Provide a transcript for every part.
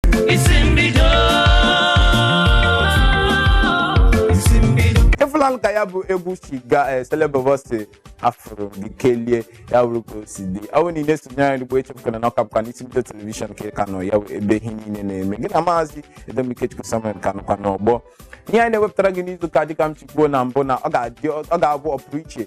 isi mbido isi mbido ị fụlanụ ka ya bụ egwu si gaa eh, Selebobo sị afụrụ gị kelie ya wụrụ ka o si dị ọ bụrụ na ị na-esonye anyị ugbu a echefukwana na ọ ka bụkwa n'isi mbido telivishọn ka ị ka nọ ya bụ ebe ihe niile na-eme gị na maazị Edem Ikechukwu Samuel ka nọkwa n'ọgbọ ihe anyị na-ewepụtara gị n'izu ụka dịka m si kwuo na mbụ na ọ ga-adị- ọ ga-abụ ọpụrụ iche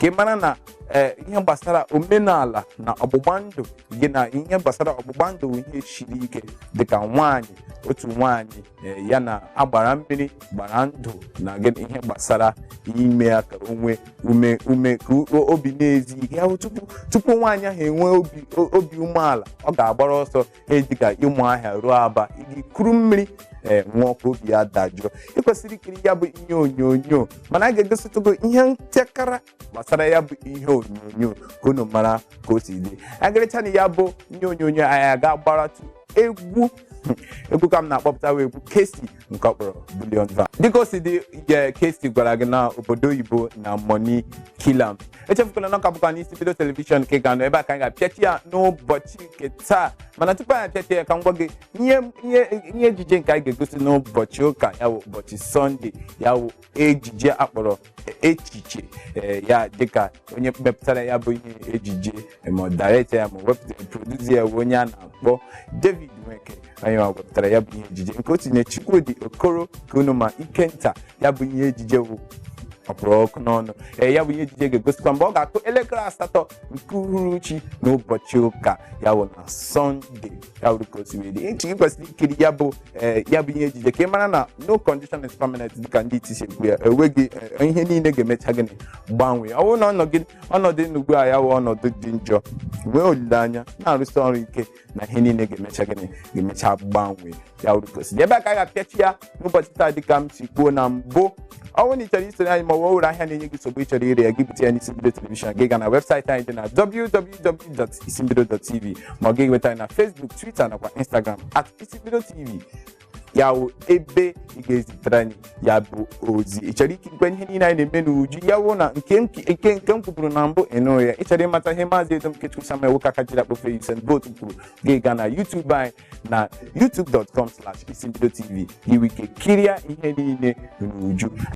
ka ị mara na ee ihe gbasara omenala na ọgbụgba ndụ gị na ihe gbasara ọgbụgba ndụ bụ ihe siri ike dịka nwaanyị otu nwaanyị ee, ya na agbara mmiri gbara ndụ na gị na ihe gbasara ime ya ka o nwee ume ume ka o- obi na-ezi ike ya bụ tupu tupu nwaanyị ahụ enwee obi o- obi umeala ọ ga-agbara ọsọ ihe dịka Ụmụahịa ruo Aba ije kuru mmiri ee ṅụọ ka obi ya dajụọ ị kwesịrị ikiri ya bụ ihe onyonyo mana a ga-egositụ gị ihe ntakịrị gbasara ya bụ ihe onyonyo ka unu mara ka o si dị e kirichaanụ ya bụ ihe onyonyo anyị aga gbaratụ egwu egwu ka m na-akpọpụta wụ egwu Kcee nke ọ kpọrọ Bullion Van dịka o si dị Kcee gwara gị na obodo oyibo na money kill am echefukwala na ọ ka bụkwa n'isi mbido telivishọn ka ị ka nọ ebe a ka anyị ga-apịachi ya n'ụbọchị nke taa mana tupu anyị apịachi ya ka m gwa gị ihe ihe ihe ejije nke anyị ga-egosi n'ụbọchị ụka ya wụ ụbọchị sọnde ya wụ ejije a kpọrọ echiche ee, ya dịka onye mepụtara ya bụ ihe ejije ma ọ director ya ma ọ wepụtara producer ya bụ onye a na-akpọ David Nweke onye ọ wepụtara ya bụ ihe ejije nke o tinye Chukwudi Okoro ka unu ma Ikenta ya bụ ihe ejije bụ ọ kpụrụ ọkụ n'ọnụ ee ya bụ ihe ejije ga-egosikwa mgbe ọ ga-akụ elekere asatọ nke uhuruchi n'ụbọchị ụka ya bụ na sọnde ya bụrụ ka o si wee dị echi gị kwesịrị ikiri ya bụ ee ya bụ ihe ejije ka ị mara na no condition is permanent dịka ndị iti si ekwu ya enweghị ee, ihe niile ga-emecha gịnị gbanwee ọ bụrụ na ọnọgị- ọnọdụ ị nọ ugbu a ya wụ ọnọdụ dị njọ nwee olileanya na-arụsi ọrụ ike na ihe niile ga-emecha gịnị ga-emecha gbanwee ya wụrụ ka o si dị. ebe a ka a ga-apịachi ya n'ụbọchị taa dịka m si kwuo na mbụ ọ bụrụ na ị chọrọ isonye anyị ma o nwere ahịa na-enye gị nsogbu ị chọrọ ire ya gị bute ya n'isi mbido telivishọn gị gaa na webụsaịtị anyị dị na www www.isimbido.tv ma ọ gị nweta anyị na Facebook Twitter nakwa Instagram at isimbido tv ya wụ ebe ị ga-ezitere anyị ya bụ ozi ị chọrọ ikirikwa ihe niile anyị na-eme n'uju ya wụ na nke m- nke nke m kwuburu na mbụ ịnụ ya ị chọrọ ịmata ihe maazị Edem Ikechukwu Samuel nwoke aka jiri akpofe Usain Bolt kwuru gị gaa na YouTube anyị na youtube.com slash isimbido tv i nwee ike kirie ihe niile n'uju